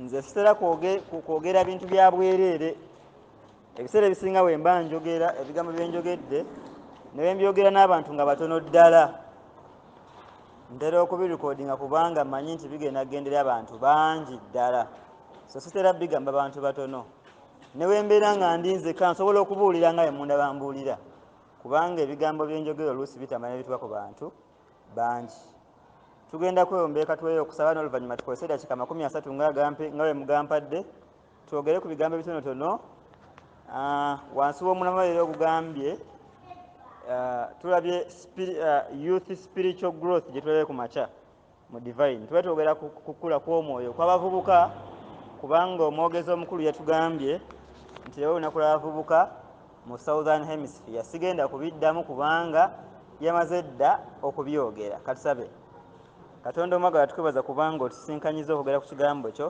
nze sitera kwogera bintu bya bwereere ebiseera ebisinga bwe mba njogera ebigambo bye njogedde ne bwe mbyogera n'abantu nga batono ddala ntera okubirikodinga kubanga manyi nti bigenda kugendera abantu bangi ddala so sitera bigamba bantu batono ne bwe mbeera nga ndi nzeka nsobola okubuulira nga emunda bambuulira kubanga ebigambo bye njogera oluusi bitamanya bituba ku bantu bangi tugenda kwewombeeka tweyo okusaba n'oluvannyuma tukozese eddakiika amakumi asatu nga bwe mugampadde twogere ku bigambo ebitonotono ah, wansi w'omulamwa leero ogugambye ah, tulabye ah, youth spiritual growth gye tulabye ku makya mu divine tuba twogera kukula kw'omwoyo kw'abavubuka kubanga omwogezi omukulu yatugambye nti leero olunaku lw'abavubuka mu southern hemisphere sigenda kubiddamu kubanga yamaze dda okubyogera katusabe katonda omwagala tukwebaza kubanga otusinkanyiza okwogera ku kigambo kyo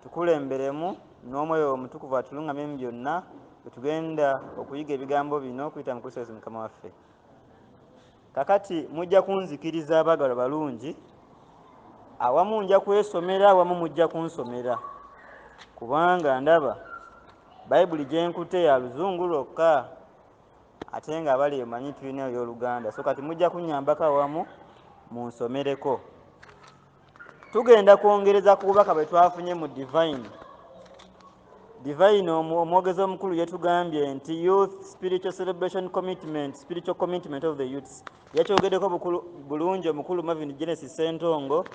tukulemberemu n'omwoyo omutukuvu atulungamye mu byonna bwetugenda okuyiga ebigambo bino okuyita mu kristo yesu mukama waffe Kakati mujja kunzikiriza abaagalwa balungi, awamu nja kwesomera awamu mujja kunsomera kubanga ndaba bayibuli gye nkute ya luzungu lwokka ate nga abali emanyi tulina ey'oluganda so kati mujja kunnyambako awamu munsomereko. tugenda kwongereza ku bubaka bwe twafunye mu divine divine omwogezi omukulu yetugambye nti youth spiritual celebration commitment spiritual commitment of the youths yakyogedeko bulungi omukulu mavin genesis sentongo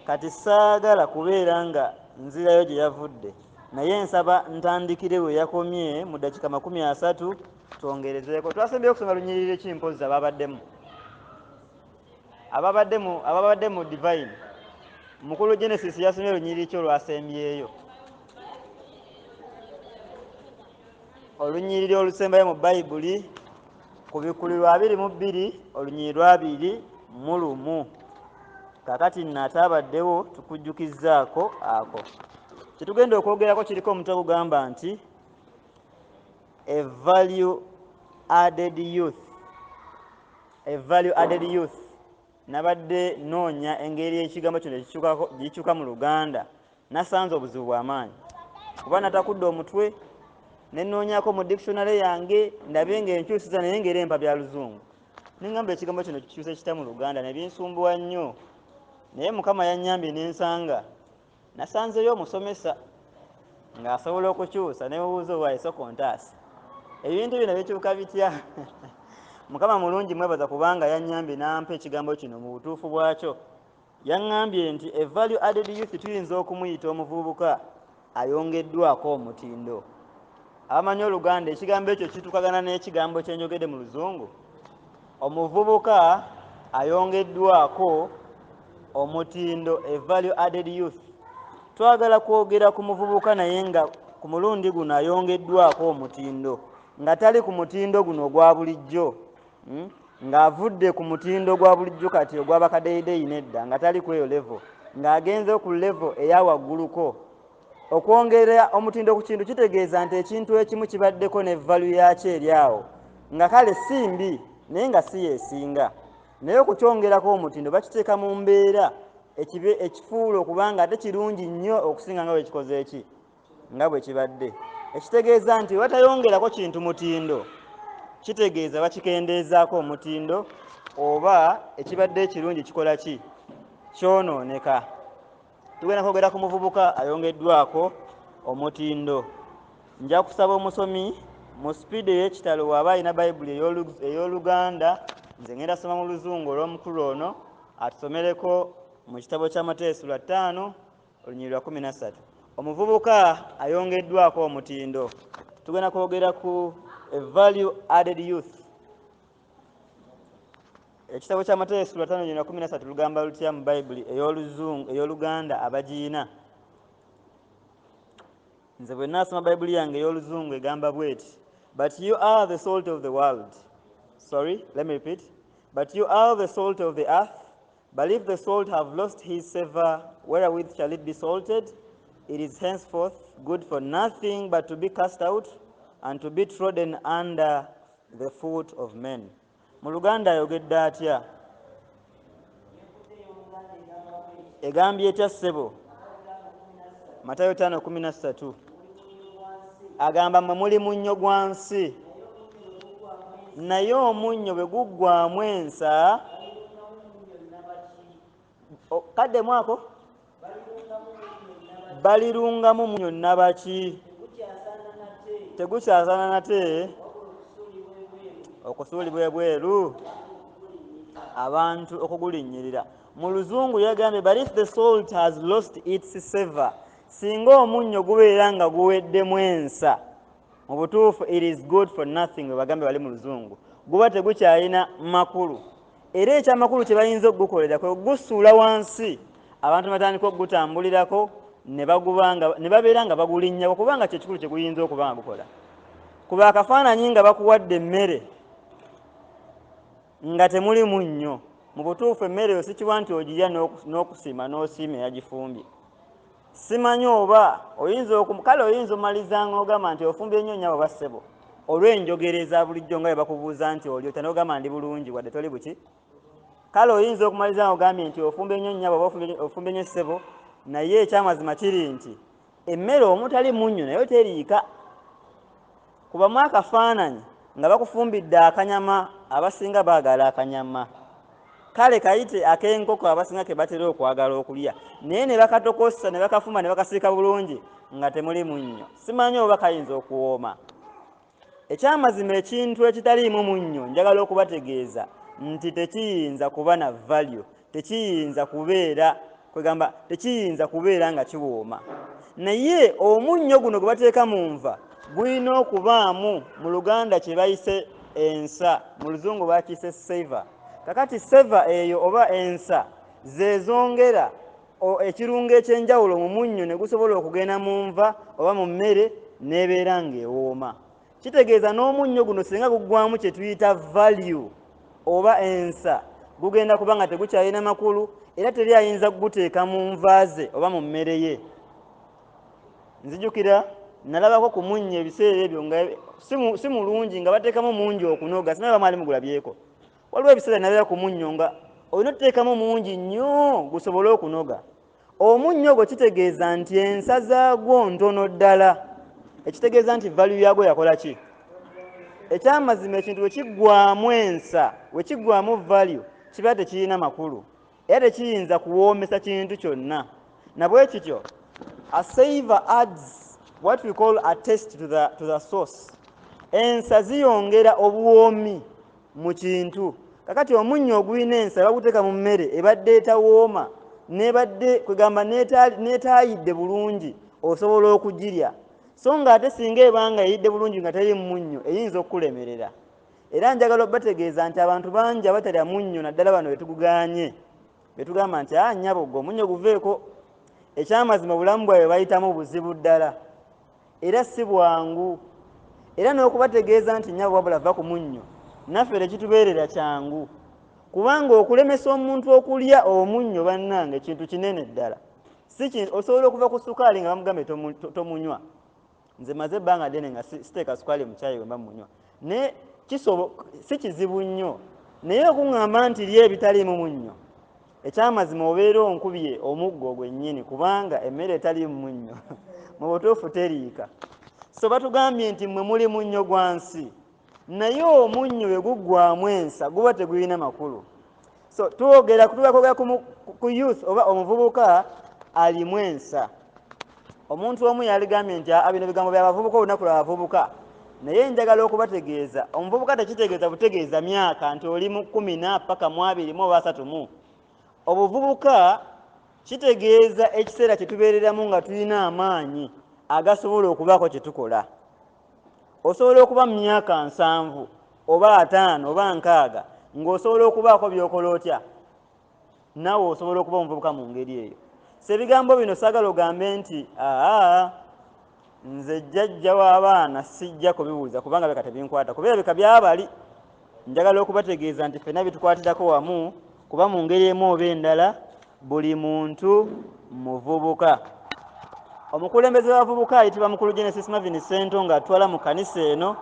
kati saagala kubeera nga nzirayo gye yavudde naye nsaba ntandikire we yakomye mu dakika makumi asatu twongerezeeko twasembyeyo okusoma lunyiriri ki mpozi ababaddemu ababadde mu divine mukulu genesis yasomye olunyiriri ki olwasembyeyo olunyiriri olusembayo mu bayibuli ku bikuli lwa abiri mu bbiri olunyiriri lwabiri mu lumu kakati nate abaddewo tukujjukizzaako ako kyetugenda okwogerako kiriko omuntu ogugamba nti a value added youth A value added youth nabadde noonya engeri ekigambo kino gikyuka mu luganda nasanze obuzibu bwamaanyi kuba natakudde omutwe nenoonyako mu dictionary yange ndabe nga enkyusiza naye ngaera empa bya luzungu nengamba ekigambo kino kikyuse kita mu luganda nebinsumbuwa nnyo naye mukama yanyambye nensanga nasanzeyo omusomesa ng'asobola okukyusa ne mubuuza owa esoko ntaasa ebintu bino bikyuka bitya mukama mulungi mwebaza kubanga yanyambye nampa ekigambo kino mu butuufu bwakyo yaŋŋambye nti e value added youth tuyinza okumuyita omuvubuka ayongeddwako omutindo abamanyi oluganda ekigambo ekyo kitukagana n'ekigambo kyenjogedde mu luzungu Omuvubuka ayongeddwako omutindo e Value Added Youth. Twagala kwogera ku muvubuka naye nga ku mulundi guno ayongeddwako omutindo nga tali ku mutindo guno ogwa bulijjo hmm? ng'avudde ku mutindo gwa bulijjo kati ogw'abakadeyideyi nedda nga tali ku eyo levo ng'agenze ku levo eya wagguluko okwongera omutindo ku kintu kitegeeza nti ekintu ekimu kibaddeko ne valu yakyo eri awo nga kale si mbi naye nga si yesinga naye okukyongerako omutindo bakiteeka mu mbeera ekibe ekifuula okuba nga ate kirungi nnyo okusinga nga bwekikoze eki nga bwe kibadde ekitegeeza nti watayongerako kintu mutindo kitegeeza bakikendeezaako omutindo oba ekibadde ekirungi kikola ki kyonooneka tugenda kwogera ku muvubuka ayongeddwako omutindo nja kusaba omusomi mu sipiidi ey'ekitalo waaba alina bayibuli ey'oluganda nze ngenda soma mu luzungu olw'omukulu ono atusomereko mu kitabo kya mateyo sula ttaano olunyiri lwa kumi na ssatu omuvubuka ayongeddwako omutindo tugenda kwogera ku value added youth ekitabo kya matayo esula tano yona kumi nasatu lugamba lutya mu bayibuli eyoluzungu eyoluganda abagiyina nze bwe naasoma bayibuli yange eyoluzungu egamba bweti but you are the salt of the world sorry let me repeat but you are the salt of the earth but if the salt have lost his savor wherewith shall it be salted it is henceforth good for nothing but to be cast out and to be trodden under the foot of men mu luganda ayogedde atya egambye etya ssebo matayo 513 agamba mwe muli munnyo gwa nsi naye omunnyo bwe guggwamu ensa kaddemu ako balirungamu munyo nabaki tegukyazana nate okusuulibwa ebweru abantu okugulinnyirira mu luzungu yagambye but if the salt has lost its saver singa omunnyo gubeera nga guweddemu ensa mu butuufu it is good for nothing webagambe bali mu luzungu guba tegukyalina makulu era ekyamakulu kye bayinza okugukolera kwe gusuula wansi abantu batandika okugutambulirako ne babeera nga bagulinnyako kubanga kyekikulu kye guyinza okuba nga gukola kuba akafaananyi nga bakuwadde emmere nga temuli munnyo mu butuufu emmere eyo sikibwa nti ogirya n'okusiima n'osiima eyagifumbye simanyi oba oyinza kale oyinza omaliza nga ogamba nti ofumbye nnyo nyabo bassebo olw'enjogera eza bulijjo nga webakubuuza nti oli otya nogamba ndi bulungi wadde toli buki kale oyinza okumaliza nga ogambye nti ofumbye nnyo nyabo oba ofumbye nnyo ssebo naye ekyamazima kiri nti emmere omutali munnyo nayo teriika kubamu akafaananyi nga bakufumbidde akanyama abasinga baagala akanyama kale kayite ak'enkoko abasinga ke batera okwagala okulya naye ne bakatokosa ne bakafuma ne bakasiika bulungi nga temuli munnyo simanyi oba kayinza okuwooma ekyamazima ekintu ekitaliimu munnyo njagala okubategeeza nti tekiyinza kuba na value tekiyinza kubeera kwegamba tekiyinza kubeera nga kiwooma naye omunnyo guno gwe bateeka mu nva gulina okubaamu mu luganda kye bayise ensa mu luzungu bakiyise seva kakati seva eyo oba ensa zezongera ekirungo ekyenjawulo mu munnyo ne gusobola okugenda mu nva oba mu mmere n'ebeera ng'ewooma kitegeeza n'omunnyo guno singa guggwamu kye tuyita value oba ensa gugenda kuba nga tegukyalina makulu era teri ayinza kuguteeka mu nva ze oba mu mmere ye nzijukira nalabako ku munnyo ebiseera ebyo nga si mulungi nga bateekamu mungi okunoga sinaba mwali mugulabyeko waliwo ebiseera nabeera ku munnyo nga olina otuteekamu mungi nnyo gusobole okunoga omunnyo ogwo kitegeeza nti ensa zaagwo ntono ddala ekitegeeza nti valu yaagwo yakola ki ekyamazima ekintu wekiggwamu ensa wekiggwamu valu kiba tekirina makulu era tekiyinza kuwoomesa kintu kyonna nabwe kityo a saver adds what we call a test to the, to the source ensa ziyongera obuwoomi mu kintu kakati omunnyo ogulina ensa baguteeka mu mmere ebadde etawooma nebadde kwegamba netaayidde bulungi osobola okugirya so nga ate singa ebanga eyidde bulungi nga teri munnyo eyinza okukulemerera era njagala obategeeza nti abantu bangi abatalya munnyo naddala bano betuguganye betugamba nti a ah, nyabo gwe omunnyo guveeko ekyamazima obulamu bwabwe bayitamu buzibu ddala era si bwangu era n'okubategeeza nti nyabo wabula va ku munnyo naffe tekitubeerera kyangu kubanga okulemesa omuntu okulya omunnyo bannange kintu kinene ddala osobola okuva ku sukaali nga bamugambye tomunywa nze maze ebbanga ddene nga siteeka sukaali mu caayi wemba munywa naye kisobo si kizibu nnyo naye okuŋŋamba nti ly ebitaliimu munnyo ekyamazima obeera onkubye omuggo gwennyini kubanga emmere etaliimu munnyo mu butuufu teriika so batugambye nti mmwe muli munnyo gwa nsi naye omunnyo bwe guggwamu ensa guba tegulina makulu so twogera tuba kwogera ku youth oba omuvubuka alimu ensa omuntu omu yaligambye nti aa bino bigambo byabavubuka olunaku lwabavubuka naye njagala okubategeeza omuvubuka tekitegeeza butegeeza myaka nti oli mu kumi na paka mu abiri mu oba asatu mu obuvubuka kitegeeza ekiseera kyetubeereramu nga tulina amaanyi agasobola okubaako kyetukola osobola okuba mu myaka nsanvu oba ataano oba nkaaga ng'osobola okubaako byokola otya naawe osobola okuba omuvubuka mu ngeri eyo sebigambo bino sagala ogambe nti aa nze jjajja w'abaana sijja kubibuuza kubanga beka tebinkwata kuba ebeka byabali njagala okubategeeza nti fena bitukwatirako wamu kuba mu ngeri emu oba endala buli muntu muvubuka omukulembeze wabavubuka ayitibwa mukulu genesis mavin sento nga atwala mu kanisa eno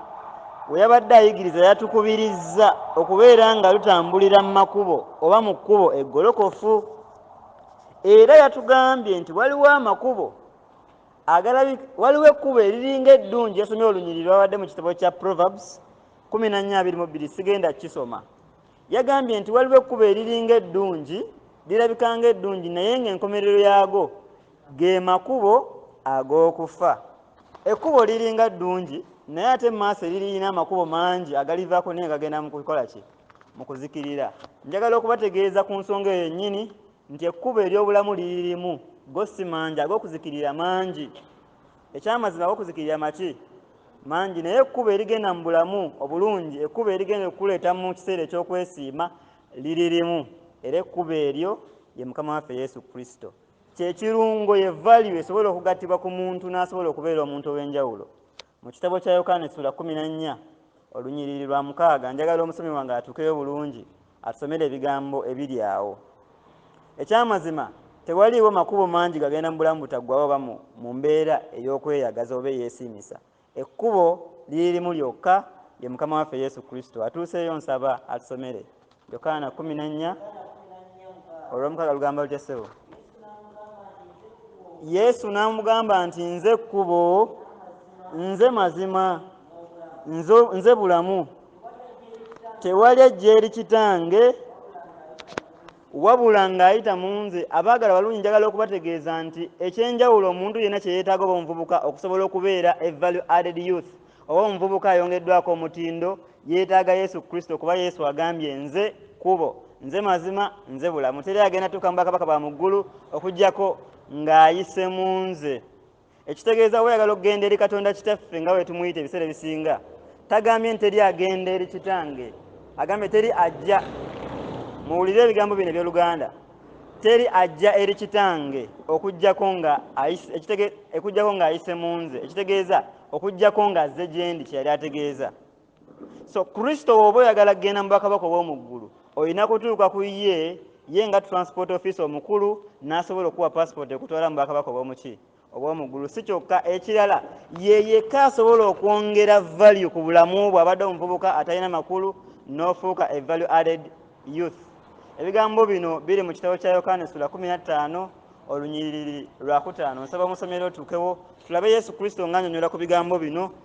we yabadde ayigiriza yatukubirizza okubeera nga lutambulira mu makubo oba mu kkubo eggolokofu era yatugambye nti waliwo amakubo waliwo ekkubo eriringa eddungi yasomye olunyiriri lwabadde mu kitabo kya proverbs 1422 sigenda kukisoma yagambye nti waliwo ekkubo eriringa eddungi lirabika nga eddungi naye ng'enkomerero yaago ge makubo ag'okufa ekkubo liringa ddungi naye ate mumaaso eririyina amakubo mangi agalivaako naye gagenda mu kukola ki mu kuzikirira njagala okubategeeza ku nsonga eyo yennyini nti ekkubo ery'obulamu liririmu go si mangi ag'okuzikirira mangi Ekyamazima okuzikirira maki mangi naye ekkubo erigenda mu bulamu obulungi, ekkubo erigenda okukuleeta mu kiseera eky'okwesiima liri limu, era ekkubo eryo ye Mukama waffe Yesu Kristo. Kye kirungo, ye value esobola okugattibwa ku muntu n'asobola okubeera omuntu ow'enjawulo. Mu kitabo kya Yokaana essula kkumi na nnya olunyiriri lwa mukaaga, njagala omusomi wange atuukeyo bulungi. atusomere ebigambo ebiri awo ekyamazima tewaliiwo makubo mangi gagenda mu bulamu butaggwawo oba mu mbeera ey'okweyagaza oba eyeesiimisa ekkubo liri limu lyokka ye mukama waffe yesu kristo atuuseeyo nsaba atusomere yokaana kumi nannya olwomukaaga lugamba lutya ssebo yesu n'amugamba nti nze kkubo nze mazima nze bulamu tewali ajja eri kitange wabula ng'ayita mu nze abaagala balungi njagala okubategeeza nti ekyenjawulo omuntu yenna kye yeetaaga oba omuvubuka okusobola okubeera e value added youth oba omuvubuka ayongeddwako omutindo yeetaaga yesu kristo kuba yesu agambye nze kubo nze mazima nze bulamu teri agenda tuuka mu bakabaka ba mu ggulu okugyako ng'ayise mu nze ekitegeeza weyagala okugenda eri katonda kitaffe nga wetumuyita ebiseera ebisinga tagambye nti teri agenda eri kitange agambye teri ajja muwulire ebigambo bino ebyoluganda teri ajja eri kitange okujjako nga ekujjako nga ayise mu nze ekitegeeza okujjako nga azze gyendi kyeyali ategeeza so kristo woba oyagala kugenda mubakabaka obwomuggulu olina kutuuka ku ye ye nga transport office omukulu nasobola okuwa passport ekutwala mubakabaka obwomuki obwomuggulu si kyokka ekirala yeyekka asobola okwongera value ku bulamu bwe abadde omuvubuka atalina makulu n'ofuuka e value added youth ebigambo bino biri mu kitabo kya yokaana esula 15 olunyiriri lwakutaano nsaba omusomero otuukewo tulabe yesu kristo ng'anyonyola ku bigambo bino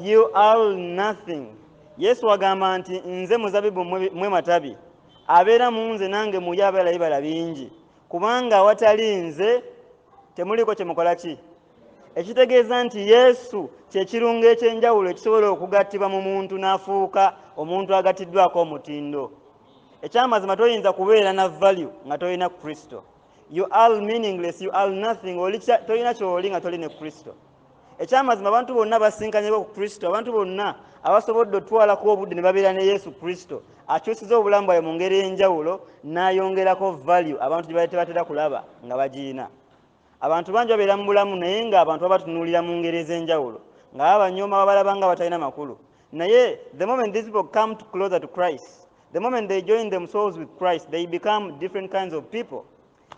you are nothing yesu agamba nti nze muzabibu mwe matabi abeera mu nze nange muye abeera ibala bingi kubanga awatali nze temuliiko kyemukola ki ekitegeeza nti yesu kyekirungo ekyenjawulo ekisobola okugattibwa mu muntu n'afuuka omuntu agattiddwako omutindo ekyamazima toyinza kubeera na value nga tolina kristo you all meaningless you all nothing oli tolina kyoli nga toli ne kristo ekyamazima abantu bonna basinkanyeko ku kristo abantu bonna abasobodde otwalako obudde ne babeera ne yesu kristo akyusiza obulamu bwayo mu ngeri enjawulo n'ayongerako value abantu gye batebatera kulaba nga bagiyina abantu bangi babeera mu bulamu naye nga abantu babatunuulira mu ngeri ez'enjawulo nga babanyooma babalaba nga batalina makulu naye the moment these people come to closer to christ the moment they join themselves with christ they become different kinds of people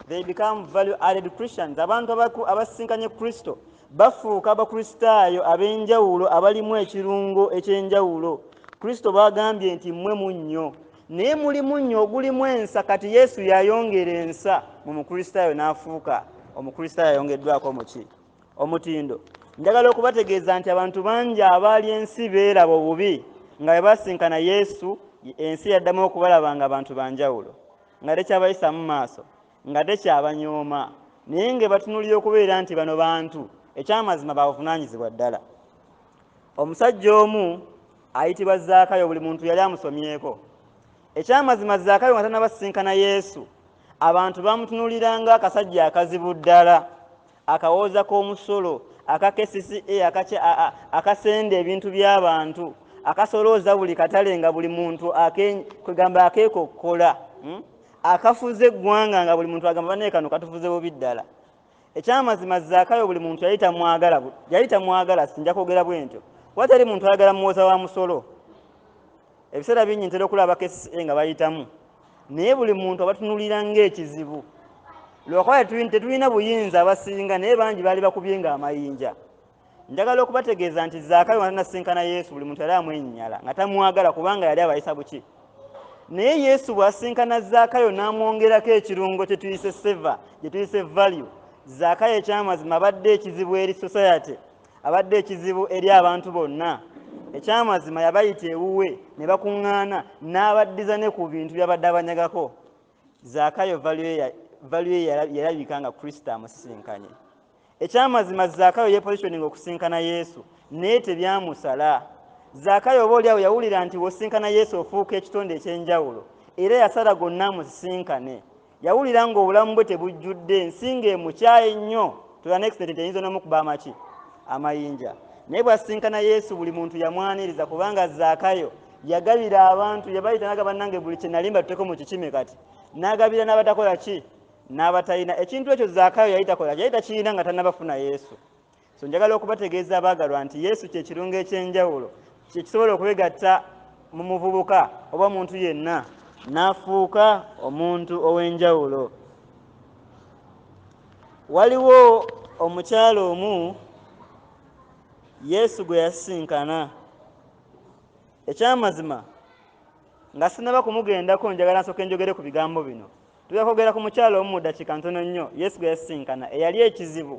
They become value added Christians. Abantu abasisinkanye Kristo bafuuka abakristaayo ab'enjawulo abalimu ekirungo eky'enjawulo. Kristo baagambye nti mmwe munnyo, naye muli munnyo ogulimu ensa. Kati Yesu yayongera ensa mu mukristaayo n'afuuka omukristaayo ayongeddwako omuki omutindo. Njagala okubategeeza nti abantu bangi abaali ensi beeraba obubi nga bwe basinkana Yesu, ensi yaddamu okubalaba nga bantu ba njawulo. nga tekyabayisa mu maaso nga tekyabanyooma naye nga ebatunulira okubeera nti bano bantu ekyamazima babuvunaanyizibwa ddala omusajja omu ayitibwa zaakayo buli muntu yali amusomyeko ekyamazima zaakayo nga tanabasisinkana yesu abantu bamutunuliranga akasajja akazibu ddala akawooza k'omusolo aka kcca akasenda ebintu by'abantu akasolooza buli katale nga buli muntu kwegamba akeekokkola hmm? akafuze eggwanga nga buli muntu agamba banaye kano katufuze bubi ddala ekyamazima zaakayo buli muntu yali tamwagala yali tamwagala sinja kwogera bwentyo watali muntu ayagala muwoza wa musolo ebiseera bingi ntera okulaba kcca nga bayitamu naye buli muntu abatunulira ngaekizibu lwakuba tetulina buyinza abasinga naye bangi baali bakubye nga amayinja njagala okubategeeza nti zaakayo nga tanasinkana yesu buli muntu yali amwenyinyala nga tamwagala kubanga yali abayisa buki naye yesu bwasinkana zaakayo n'amwongerako ekirungo kyetuyise seva gyetuyise value zaakayo ekyamazima abadde ekizibu eri society abadde ekizibu eri abantu bonna ekyamazima yabayita ewuwe ne bakuŋŋaana n'abaddiza ne ku bintu byabadde abanyagako zaakayo valuye yalabika nga kristo amusisinkanye ekyamazima zaakayo yepositioning okusinkana yesu naye tebyamusala zaakayo oba oliawo yawulira nti wosinkana yesu ofuuka ekitonde ekyenjawulo era yasala gonna amusisinkane Yawulira ng'obulamu bwe tebujjudde ensi ng'emukyaye nnyo to the next nti eyinza n'omukuba amaki amayinja. Naye bw'asisinkana Yesu buli muntu yamwaniriza kubanga Zaakayo yagabira abantu yabayita naga bannange buli kye nali mbatuteeko mu kikime kati n'agabira n'abatakola ki n'abatalina ekintu ekyo Zaakayo yali takola yali takirina nga tannabafuna Yesu. so njagala okubategeeza abaagalwa nti yesu kye kirungo eky'enjawulo kyekisobola okwegatta mu muvubuka oba muntu yenna n'afuuka omuntu ow'enjawulo waliwo omukyalo omu yesu gwe yasisinkana ekyamazima nga sinaba kumugendako njagala nsooka enjogere ku bigambo bino Tujja kwogera ku mukyala omu mu ddakiika ntono nnyo Yesu gwe yasisinkana eyali ekizibu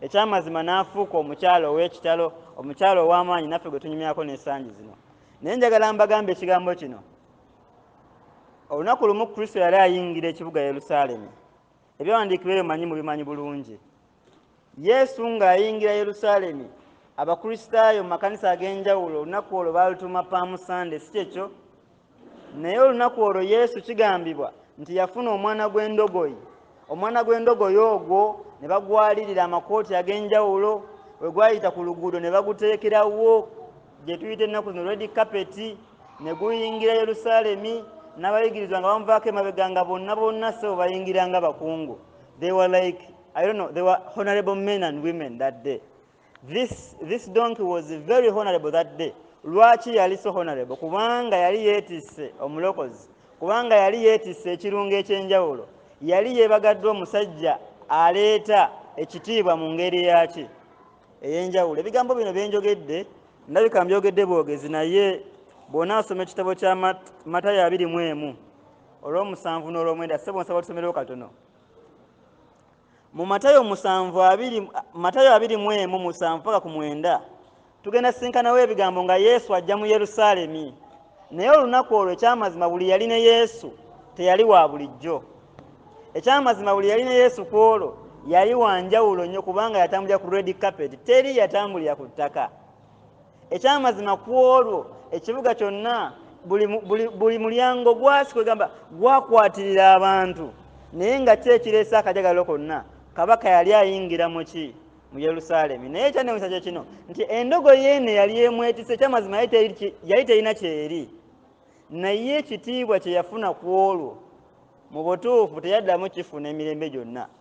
eky'amazima n'afuuka omukyala ow'ekitalo, omukyala ow'amaanyi naffe gwe tunyumyako n'ensangi zino. Naye njagala mbagambe ekigambo kino. Olunaku lumu Kristo yali ayingira ekibuga Yerusaalemi. Ebyawandiikibwa ebyo manyi mubimanyi bulungi. yesu ng'ayingira yerusaalemi abakristaayo mu makanisa ag'enjawulo olunaku olwo baalutuuma paamu sande si kyekyo naye olunaku olwo yesu kigambibwa nti yafuna omwana gw'endogoyi omwana gw'endogoyi ogwo ne bagwalirira amakooti ag'enjawulo we gwayita ku luguudo ne baguteekerawo gye tuyita ennaku zino redi kapeti ne guyingira yerusaalemi n'abayigirizwa nga bamuvaako emabega nga bonna bonna sebo bayingira nga bakungu they were like I don't know, they were honorable men and women that day. This, this donkey was very honorable that day. Lwaki yali so honorable? Kubanga yali yetisse omulokozi. Kubanga yali yetisse ekirungo ekyenjawulo. Yali yebagaddwa omusajja aleeta ekitiibwa mu ngeri yaki eyenjawulo. Ebigambo bino byenjogedde ndabika mbyogedde bwogezi naye bw'onaasoma ekitabo kya Matayo abiri mu emu olw'omusanvu n'olw'omwenda ssebo nsaba otusomerewo katono. mu matayo musanvu abiri matayo abiri mu emu musanvu paka ku mwenda tugenda sinkanawo ebigambo nga yesu ajja mu yerusaalemi naye olunaku olwo ekyamazima buli yali ne yesu teyali wa bulijjo ekyamazima buli yali ne yesu ku olwo yali wanjawulo nnyo kubanga yatambulira ku red carpet teri yatambulira ku ttaka ekyamazima ku olwo ekibuga kyonna buli mulyango gwasi kwegamba gwakwatirira abantu naye nga ki ekireese akajagalo konna kabaka yali ayingira muki mu yerusaalemi naye ekyanewusa kye kino nti endogo yeene yali emwetise ekyamazima yali terina kyeri naye ekitiibwa kye yafuna ku olwo mu butuufu teyaddamu kifuna emirembe gyonna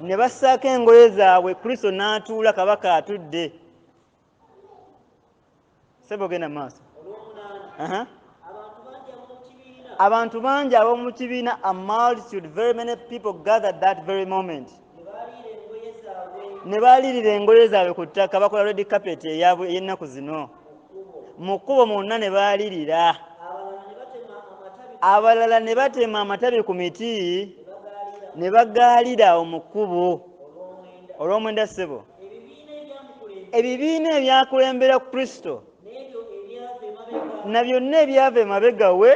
ne bassaako engoye zaabwe kristo n'atuula kabaka atudde sebo genda maaso abantu bangi ab'omu kibiina a multitude very many people gather that very moment ne baalirira engoye zaabwe ku ttaka bakola redi kapeti eyennaku zino mu kkubo mwonna ne baalirira abalala ne batema amatabi ku miti ne bagaalira awo mu kkubo olw'omwenda ssebo ebibiina ebyakulembera kristo na byonna ebyava emabega we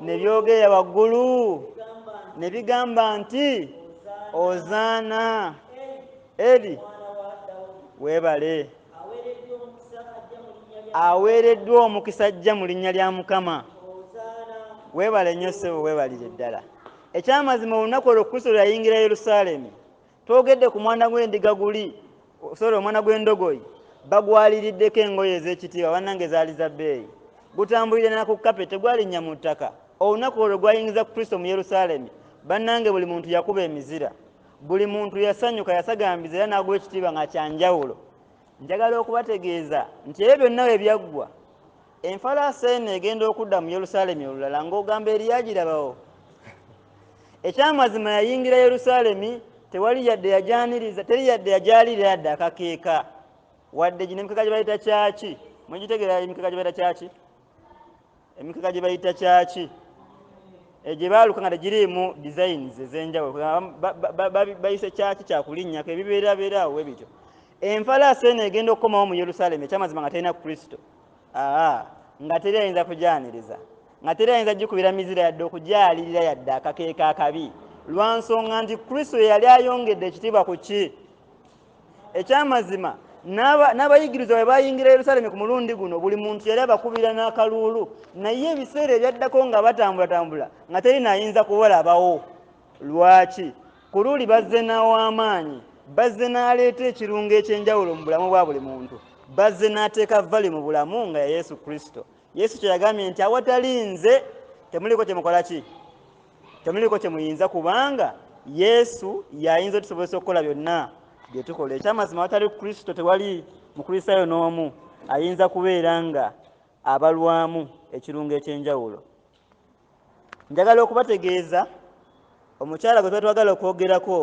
ne byogerera waggulu ne bigamba nti ozaana eri webale aweereddwa omukisa ajja mu linnya lya mukama weebale nnyo ssebo weebalire ddala ekyamazima olunaku olwo kristo lwe yayingira yerusaalemi twogedde ku mwana gw'endiga guli sori omwana gw'endogoyi bagwaliriddeko engoye ez'ekitiibwa bannange zaali za bbeeyi gutambulire nala ku kape tegwalinnya mu ttaka olunaku olwo gwayingiza kristo mu yerusaalemi bannange buli muntu yakuba emizira buli muntu yasanyuka yasagambiza era n'aguwa ekitiibwa nga kyanjawulo njagala okubategeeza nti ebyo byonna we byaggwa enfalaasa eno egenda okudda mu yerusaalemi olulala ng'ogamba eri yagirabawo ekyamazima yayingira yerusaalemi tewali yadde yagyaniriza teri yadde yagyalira yadde akakeeka wadde gino emikeka gye bayita kyaki mwegitegeera emikeka gye bayita kyaki emikeka gye bayita kyaki eh, gye baaluka nga tegiriimu designs ez'enjawulo bayise kyaki kyakulinnyako ebibeerabeeraawo we bityo enfalaasi eno egenda okukomawo mu yerusaalemi ekyamazima nga terina kristo aa nga teri ayinza kugyaniriza nga teri ayinza gikubira mizira yadde okugyalirira yadde akakeeka akabi lwa nsonga nti kristo yeyali ayongedde ekitiibwa ku ki ekyamazima n'abayigiriza bwe bayingira yerusalemi ku mulundi guno buli muntu yali abakubira n'akaluulu naye ebiseera ebyaddako nga batambulatambula nga teri naayinza kubalabawo lwaki ku luuli bazze n'aw'amaanyi bazze n'aleeta ekirungo eky'enjawulo mu bulamu bwa buli muntu bazze n'ateeka vali mu bulamu nga ya yesu kristo yesu kye yagambye nti awatali nze temuliko kyemukola ki temuliko kyemuyinza kubanga yesu yayinza otusobozesa okukola byonna byetukola ekyamazima awatali kristo tewali mukristaayo n'omu ayinza kubeera nga abalwamu ekirungo ekyenjawulo njagala okubategeeza omukyala gwe twetwagala okwogerako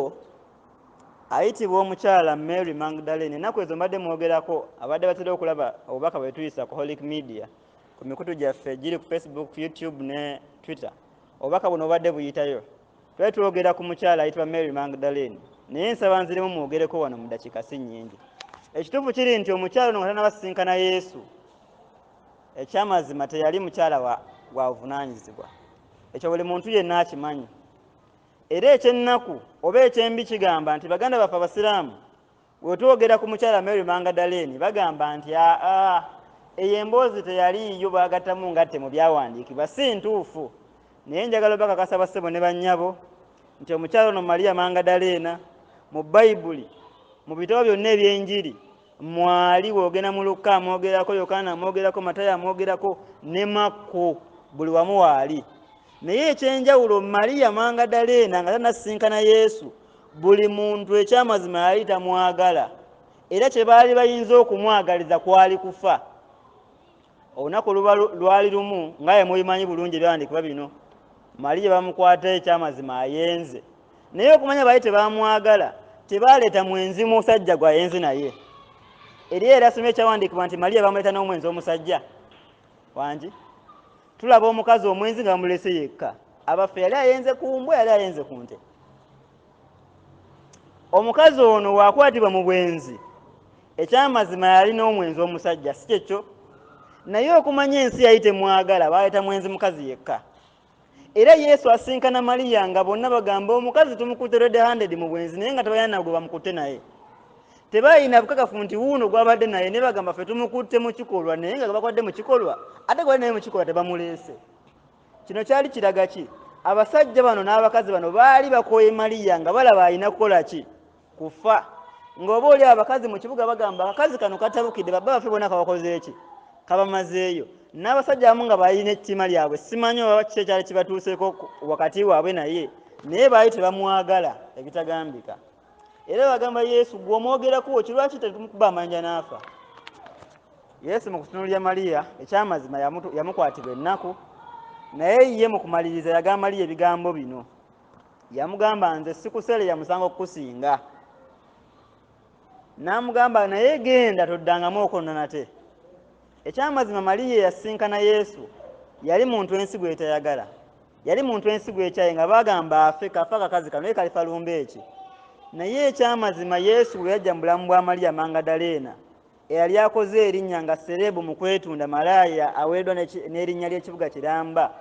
ayitibwa omukyala mary magdalene enaku ezo mbadde mwogerako abadde batera okulaba obubaka bwetuyisa ku holic media ku mikutu gyaffe giri ku facebook youtube ne twitter obubaka buno obadde buyitayo twali twogera ku mukyala ayitibwa mary magdalene naye nsaba nzirimu mwogereko wano mu dakiika si nnyingi ekituufu kiri nti omukyala ono nga tanabasisinkana yesu Ekyamazima teyali mukyala wa gwa buvunanyizibwa. Ekyo buli muntu yenna akimanyi. Era ekyennaku oba ekyembi kigamba nti baganda baffe abasiraamu wetwogera ku mukyala Mary Mangadaleeni bagamba nti aa eyo emboozi teyaliiyo bagattamu ngatte mu byawandiikibwa si ntuufu. Naye njagala obakakasa bassebo ne bannyabo nti omukyala ono Maria Mangadaleena mu Bayibuli mu bitabo byonna eby'enjiri mwali bwogenda mu lukka amwogerako yokaana amwogerako matayo amwogerako ne makko buli wamu waali naye ekyenjawulo mariya mangadaleena nga tanasinkana yesu buli muntu ekyamazima yali tamwagala era kye baali bayinza okumwagaliza kwali kufa olunaku luba lwali lumu nga ye mubimanyi bulungi ebyawandikibwa bino maliye bamukwata ekyamazima ayenze naye okumanya baali tebamwagala tebaleeta mwenzi musajja gwe ayenze naye eri era soma ekyawandikibwa nti maliye bamuleeta n'omwenzi omusajja wangi tulaba omukazi omwenzi nga bamulese yekka abaffe yali ayenze ku mbwa yali ayenze ku nte omukazi ono wakwatibwa mu bwenzi ekyamazima yalina omwenzi omusajja si kyekyo naye okumanya ensi yali temwagala baleeta mwenzi mukazi yekka era yesu asinkana maliya nga bonna bagamba omukazi tumukutte red handed mu bwenzi naye nga tebalina nagwe bamukutte naye tebalina bukakafu nti wuuno gwabadde naye ne bagamba fe tumukutte mu kikolwa naye nga gabakwadde mu kikolwa ate gwali naye mu kikolwa tebamuleese kino kyali kiraga ki abasajja bano n'abakazi bano baali bakooye maliya nga balaba alina kukola ki kufa ng'oba oli abakazi mu kibuga bagamba akakazi kano katabukidde baba bafe bona kabakozeeki kabamazeeyo n'abasajja abamu nga balina ettima lyabwe simanyi oba kiki ekyali kibatuuseeko wakati waabwe naye naye baali tebamwagala ebitagambika era bagamba yesu gwe omwogerako wekyo lwaki tetumukuba amanja n'afa yesu mu kutunulira mariya ekyamazima yamukwatibwa ennaku naye ye mu kumaliriza yagamba mariya ebigambo bino yamugamba nze sikusere yamusanga okukusinga n'amugamba naye genda toddangamu okwonna nate ekyamazima mariya eyasinkana yesu yali muntu ensi gwetayagala yali muntu ensigo ekyaye nga bagamba afe kafa kakazi kano ye kalifa lumba eki naye ekyamazima yesu bwe yajja mu bulamu bwa maliya mangadaleena eyali akoze erinnya nga sereebu mu kwetunda malaaya aweereddwa n'erinnya ly'ekibuga kiramba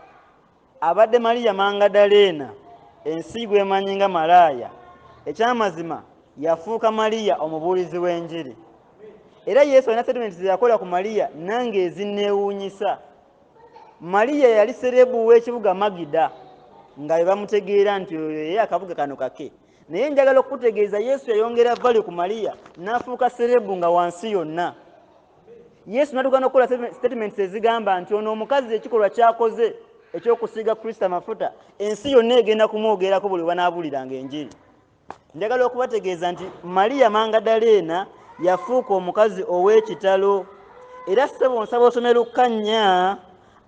abadde maliya mangadaleena ensi gwemanyi nga malaaya ekyamazima yafuuka maliya omubuulizi w'enjiri era yesu alina setimenti zeyakola ku maliya nange ezinneewuunyisa mariya yali serebu w'ekibuga magida nga bwe bamutegeera nti oyo ye akabuga kano kake naye njagala okukutegeeza yesu yayongera vali ku mariya n'afuuka serebu nga wansi yonna yesu natuuka n'okukola statements ezigamba nti ono omukazi ekikolwa kyakoze ekyokusiiga kristo amafuta ensi yonna egenda kumwogerako buli webanaabuliranga enjiri njagala okubategeeza nti maliya mangadaleena yafuuka omukazi ow'ekitalo era ssebo nsaba osome lukka nnya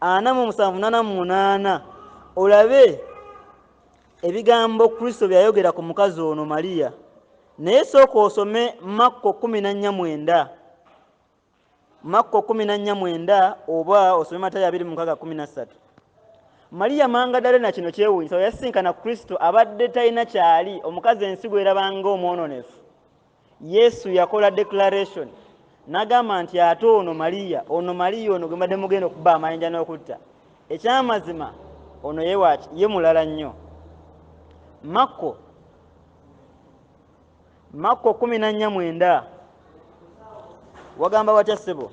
ana mu musanvu nana mu munaana olabe ebigambo kristo byeyayogera ku mukazi ono maliya naye sooka osome makko kumi na nnya mwenda makko kumi na nnya mwenda oba osome matayo abiri mu nkaga kumi na ssatu maliya mangadalena kino kyewuunyisa we yasisinkana kristo abadde talina kyali omukazi ensi gwerabanga omwononefu yesu yakola declaration n'agamba nti ate ono maliya ono maliya ono gwe mbadde mugenda okuba amayinja n'okutta ekyamazima ono yewaki ye mulala nnyo makko makko kumi na nnya mwenda wagamba watya ssebo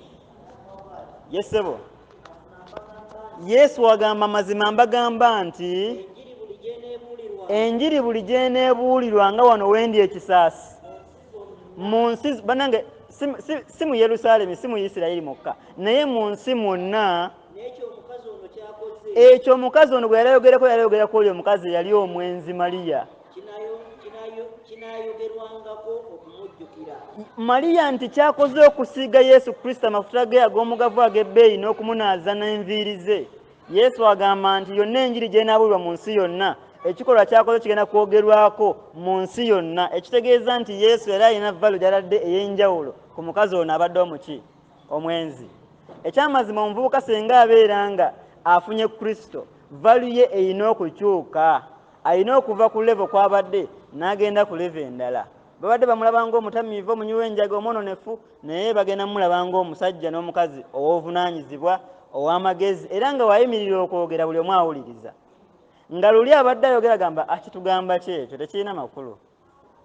ye ssebo yesu agamba mazima mbagamba nti enjiri buli gyeneebuulirwa nga wano wendi ekisaasi mu nsi banange si mu yerusaalemi si mu isirayiri mukka naye mu nsi mwonna ekyo omukazi ono bwe yalayogerako yalayogerako oli omukazi eyali omwenzi maliya kinaayogerwangako okumujjukira maliya nti kyakoze okusiiga yesu kristo amafuta ge ag'omugavu ag'ebbeeyi n'okumunaaza n'enviiri ze yesu agamba nti yonna enjiri gyenaabulirwa mu nsi yonna ekikolwa kyakoze kigenda kwogerwako mu nsi yonna ekitegeeza nti yesu yali alina valo gyaladde ey'enjawulo ku mukazi ono abadde omuki omwenzi ekyamazima omuvubuka senga abeera nga afunye kristo valu ye erina okukyuka alina okuva ku levo kwabadde n'agenda ku levo endala babadde bamulaba ngaomutamiivu omunywi w'enjaga omwononefu naye bagenda mumulaba ngaomusajja n'omukazi ow'obuvunaanyizibwa ow'amagezi era nga wayimirira okwogera buli omu awuliriza nga luli abadde ayogera gamba akitugamba kyekyo tekirina makulu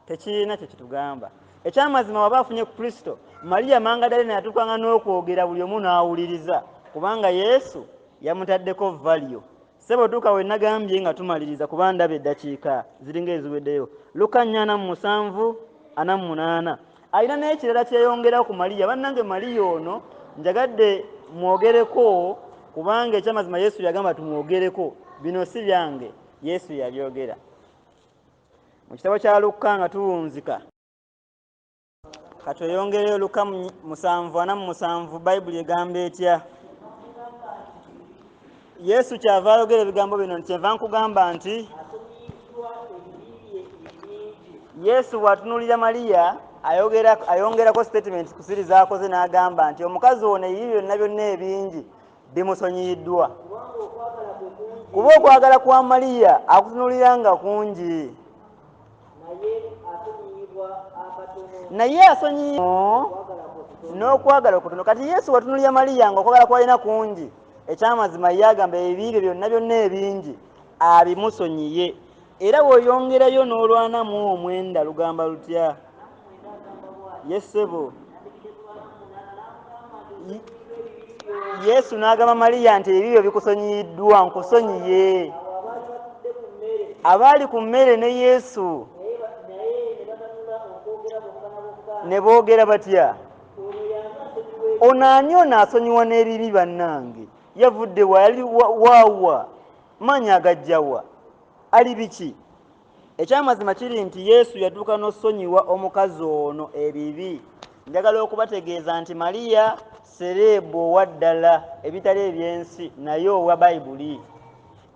tekirina kye kitugamba ekyamazima waba afunye ku kristo mariya mangadalina yatukanga n'okwogera buli omu n'awuliriza kubanga yesu yamutaddeko valyo sebo tuuka we nagambye nga tumaliriza kuba ndaba eddakiika ziringa eziweddeyo luka nnyo ana mu musanvu ana mu munaana alina n'ekirala kyeyongera ku mariya bannange mariya ono njagadde mwogereko kubanga ekyamazima yesu yagamba tumwogereko bino si byange yesu yabyogera mu kitabo kya lukka nga tuwunzika katweyongereyo lukka musanvu ana mu musanvu bayibuli egamba etya yesu kyava ayogera ebigambo bino nti kyenva nkugamba nti yesu bw'atunuulira maliya ayongerako sitatimenti kusiri z'akoze n'agamba nti omukazi ono ebibi byonna byonna ebingi bimusonyiyiddwa kuba okwagala kwa maliya akutunulira nga kungi naye asonyiyi n'okwagala okutono kati yesu watunulira maliya nga okwagala kwalina kungi ekyamazima ye agamba ebibi bye byonna byonna ebingi abimusonyiye Era bw'oyongerayo n'olwana mu omwenda lugamba lutya? Ye ssebo. Yesu n'agamba Maliya nti ebibyo bikusonyiyiddwa nkusonyiye. Abaali ku mmere ne Yesu ne boogera batya? Ono ani ono asonyiwa n'ebibi bannange? Yavudde wa yali waawa? maanyi agajja wa ali biki ekyamazima kiri nti yesu yatuuka n'osonyiwa omukazi ono ebibi njagala okubategeeza nti mariya sereebu owa ddala ebitali ebyensi naye owa bayibuli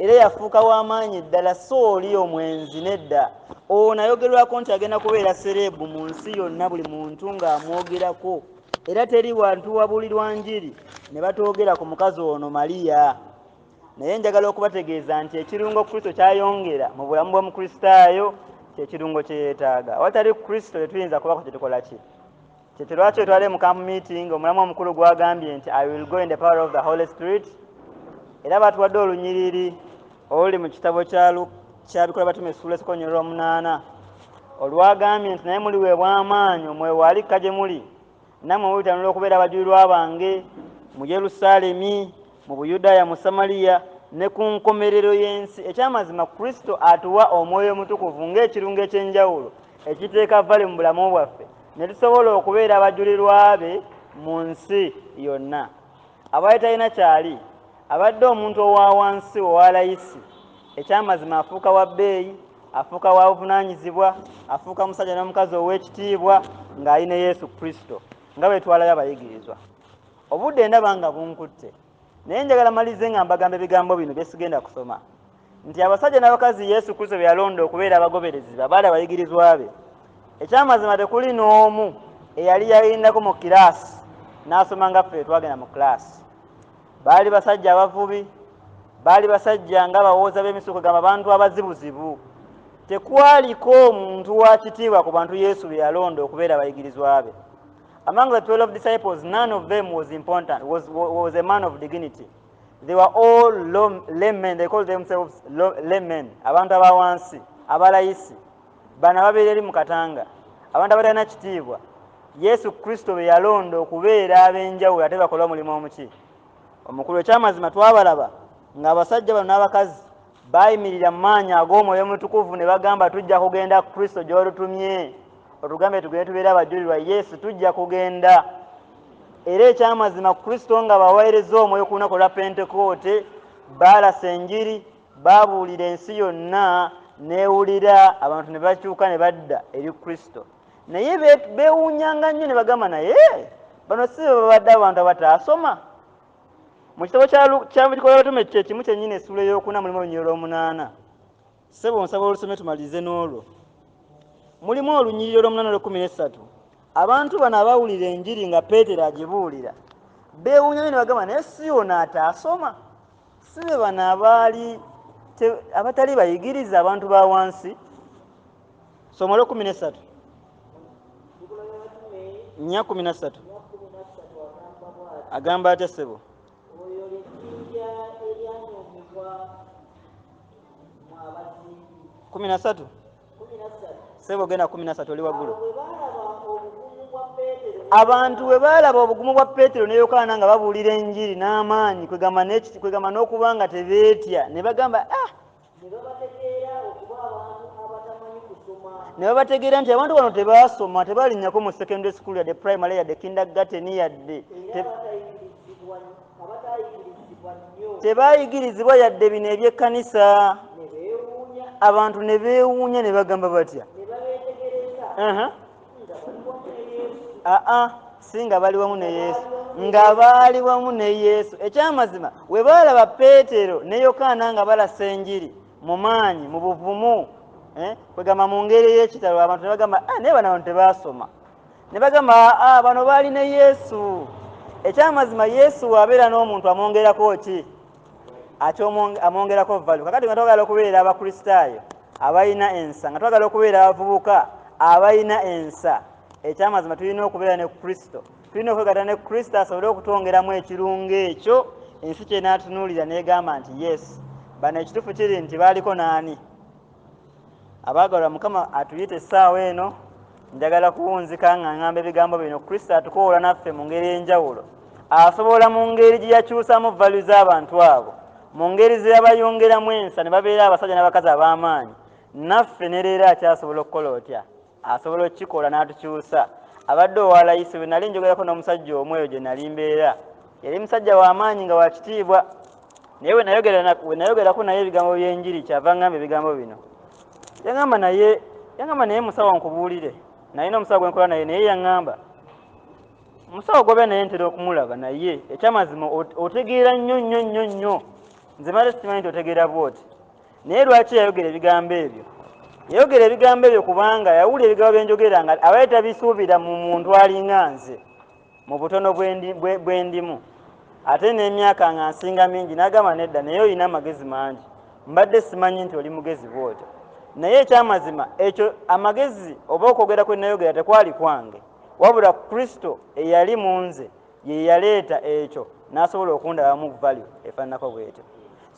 era yafuuka w'amaanyi ddala si oli omwenzi nedda ono ayogerwako nti agenda kubeera sereebu mu nsi yonna buli muntu ng'amwogerako era teri wantu wabulirwa njiri ne batoogera ku mukazi ono mariya naye njagala okubategeeza nti ekirungo kristo kyayongera mu bulamu bw'omukristaayo kyekirungo kye yeetaaga awatali kristo tetuyinza kubako kye tukola ki kyekyo lwaki otwale mu camp meeting omulamu omukulu gwagambye nti i will go in the power of the holy spirit era batuwadde olunyiriri oluli mu kitabo kyabikola batuma esuula esikonyolera omunaana olwagambye nti naye muliweebwa amaanyi omwewaali kka gye muli namwe mubitanula okubeera abajulirwa bange mu yerusaalemi mu buyudaaya mu samaliya ne ku nkomerero y'ensi ekyamazima kristo atuwa omwoyo omutukuvu ng'ekirungo eky'enjawulo ekiteeka vale mu bulamu bwaffe ne tusobola okubeera abajulirwa be mu nsi yonna Abadde talina kyali, abadde omuntu owa wansi, owa layisi. Ekyamazima afuuka wa bbeeyi, afuuka wa buvunaanyizibwa, afuuka musajja n'omukazi ow'ekitiibwa ng'ali ne Yesu Kristo, nga bwe twalabe abayigirizwa. Obudde ndaba nga bunkutte, naye njagala malirize nga mbagamba ebigambo bino bye sigenda kusoma. nti abasajja n'abakazi yesu kristo be yalonda okubeera abagoberezi be abaali abayigirizwa be ekyamazima tekuli n'omu eyali yayindako mu kiraasi n'asoma nga ffe twagenda mu kiraasi baali basajja abavubi baali basajja nga bawooza b'emisuko gamba abantu abazibuzibu tekwaliko omuntu wa kitiibwa ku bantu yesu be yalonda okubeera abayigirizwa be among the 12 disciples none of them was important was, was a man of dignity they were all laymen they call themselves laymen abantu abawansi abalayisi bano ababeera eri mu katanga abantu abatalina kitiibwa yesu kristo be yalonda okubeera ab'enjawulo ate bakola omulimu omuki omukulu ekyamazima twabalaba ng'abasajja bano n'abakazi baayimirira mu maanyi ag'omwoyo mutukuvu ne bagamba tujja kugenda ku kristo gy'olutumye otugambe tugende tubeera abajulirwa yesu tujja kugenda era ekyamazima ku kristo nga baweereza omwoyo ku lunaku olwa pentekoote baalasa enjiri baabuulira ensi yonna neewulira abantu ne bakyuka ne badda eri kristo naye beewuunyanga nnyo ne bagamba naye bano si bebabadde abantu abataasoma mu kitabo kyabikola abatume kye kimu kyennyini essuula eyokuna mulimu olunyiriro lwomunaana sebo nsaba olusome tumalirize n'olwo mulimu olunyiriro lwomunaana lwekumi nessatu abantu bano abawulira enjiri nga peetero agibuulira beewunya nyo nebagamba naye si yona ataasoma si be bano abaali abatali bayigiriza abantu ba wansi soma olwekumi nesatu nya kumi nasatu agamba atya ssebo kumi nasatu ssebo genda kumi nasatu oli waggulu abantu bwe baalaba obugumu bwa peetero ne yokaana nga babuulira enjiri n'amaanyi kwegamba n'okuba nga tebeetya ne bagamba ah ne babategeera nti abantu bano tebaasoma tebalinnyako mu secondary school yadde primary yadde kindagateni yadde tebaayigirizibwa yadde bino ebyekkanisa abantu ne beewuunya ne bagamba batya aa si nga bali wamu ne yesu nga baali wamu ne yesu ekyamazima we baalaba peetero ne yokaana nga balasa enjiri mu maanyi mu buvumu eh, kwegamba mu ngeri ey'ekitalo abantu ne bagamba ah, naye bana bantu tebaasoma ne bagamba aa bano baali ne yesu ekyamazima yesu waabeera n'omuntu amwongerako ki ate amwongerako valu kakati nga twagala okubeera abakristaayo abalina ensa nga twagala okubeera abavubuka abalina ensa ekyamazima tulina okubeera ne kristo tulina okwegata ne kristo asobole okutwongeramu ekirungo ekyo ensi kyenatunuulira negamba nti yes bano ekitufu kiri nti baaliko naani abaagalwa mukama atuyita essaawa eno njagala kuwunzika nga ngamba ebigambo bino kristo atukoola naffe mu ngeri enjawulo asobola mu ngeri gye yakyusamu valu z'abantu abo mu ngeri ze yabayongeramu ensa ne babeera abasajja n'abakazi ab'amaanyi naffe ne leero akyasobola okukola otya asobola okukikola n'atukyusa abadde owa layisi bwe nali njogerako n'omusajja omu eyo gye nali mbeera yali musajja w'amaanyi nga wakitiibwa naye we nayogerako naye ebigambo by'enjiri kyava ngamba ebigambo bino yagamba naye yagamba naye musawo nkubuulire naye n'omusawo gwe nkola naye naye yagamba musawo gobe naye ntera okumulaba naye ekyamazima otegeera nnyo nnyo nnyo nnyo nze mala sikimanyi nti otegeera bwoti naye lwaki yayogera ebigambo ebyo yayogera ebigambo ebyo kubanga yawulira ebigambo byenjogera nga abaye tabisuubira mu muntu alinga nze mu butono bwendimu ate n'emyaka nga nsinga mingi nagamba nedda naye olina amagezi mangi mbadde simanyi nti oli mugezi bwotyo naye ekyamazima ekyo amagezi oba okwogera kwenayogera tekwali kwange wabula kristo eyali mu nze yeyaleeta ekyo nasobola okundabamu value efananako bwetyo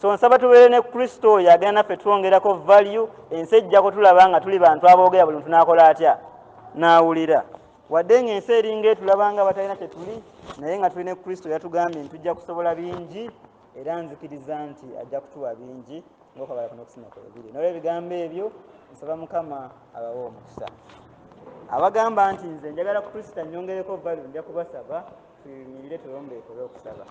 so nsaba tubeere ne kristo oyo agenda naffe twongerako value ensi ejja kutulaba nga tuli bantu aboogera buli muntu nakola atya nawulira wadde nga ensi eringa etulabanga batalina kyetuli naye nga tuli ne kristo yatugambye nti tujja kusobola bingi era nzikiriza nti ajja kutuwa bingi ngaokwagala kuno okusima kwebiri nolwo ebigambo ebyo nsaba mukama abawe omukisa abagamba nti nze njagala kukrista nyongereko valu nja kubasaba tuyimirire tulombeeko olwokusaba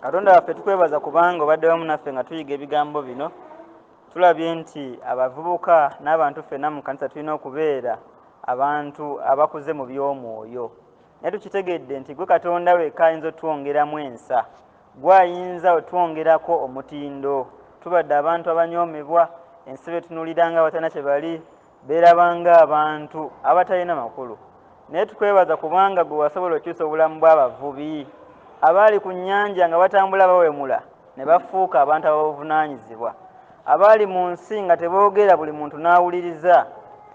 katonda waffe tukwebaza kubanga obadde wamu naffe nga tuyiga ebigambo bino Tulabye nti abavubuka n'abantu ffenna mu kkanisa tulina okubeera abantu abakuze mu by'omwoyo. Naye tukitegedde nti gwe Katonda wekka ayinza otwongeramu ensa. Gwe ayinza otwongerako omutindo. Tubadde abantu abanyoomebwa, ensi betunulira nga abatalina kye bali, Beeraba ng'abantu abatalina makulu. Naye tukwebaza kubanga ggwe wasobola okyusa obulamu bw'abavubi abaali ku nnyanja nga batambula bawemula ne bafuuka abantu ababuvunaanyizibwa, abaali mu nsi nga teboogera buli muntu n'awuliriza.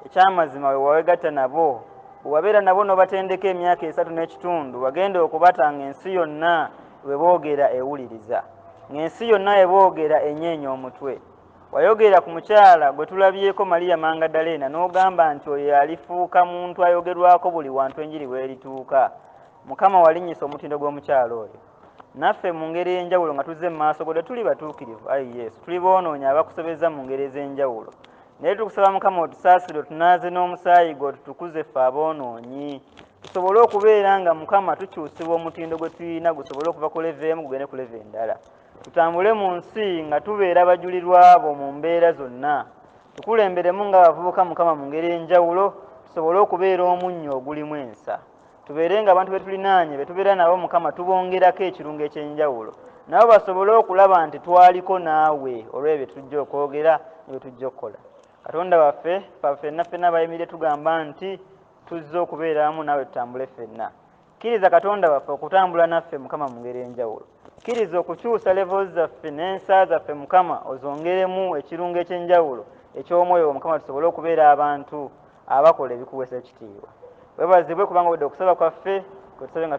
Eky'amazima we wawegatta nabo, bwe wabeera nabo n'obatendeka emyaka esatu n'ekitundu, wagenda okubata ng'ensi yonna bwe boogera ewuliriza, ng'ensi yonna bwe boogera enyeenya omutwe. Wayogera ku mukyala gwe tulabyeko Maria Mangadaleena n'ogamba nti oyo yalifuuka muntu ayogerwako buli wantu enjiri w'erituuka. Mukama walinnyisa omutindo gw'omukyala oyo. Naffe mu ngeri ey'enjawulo nga tuzze mu maaso go tetuli batuukirivu, ayi Yesu, tuli boonoonyi abakusobezza mu ngeri ez'enjawulo. Naye tukusaba Mukama otusaasire otunaaze n'omusaayi gwo tutukuze ffe aboonoonyi. Tusobole okubeera nga Mukama tukyusibwa omutindo gwe tulina gusobole okuva ku leve emu gugende ku leve endala. Tutambule mu nsi nga tubeera bajulirwa bo mu mbeera zonna. Tukulemberemu nga bavubuka Mukama mu ngeri enjawulo tusobole okubeera omunnyo ogulimu ensa. Tubeere nga abantu betulinaanye betubeera nabo Mukama tubongerako ekirungo ekyenjawulo nabo basobole okulaba nti twaliko naawe olwebyo byetujja okwogera nebyetujja okukola. Katonda waffe faffe ffenna ffenna bayimirire tugamba nti tuzze okubeera wamu naawe tutambule ffenna. Kkiriza Katonda waffe okutambula naffe Mukama mu ngeri enjawulo. Kkiriza okukyusa levels zaffe n'ensa zaffe Mukama ozongeremu ekirungo eky'enjawulo eky'omwoyo wo Mukama tusobole okubeera abantu abakola ebikuweesa ekitiibwa. Webazibwe kubanga owedde okusaba kwaffe kwetusabye nga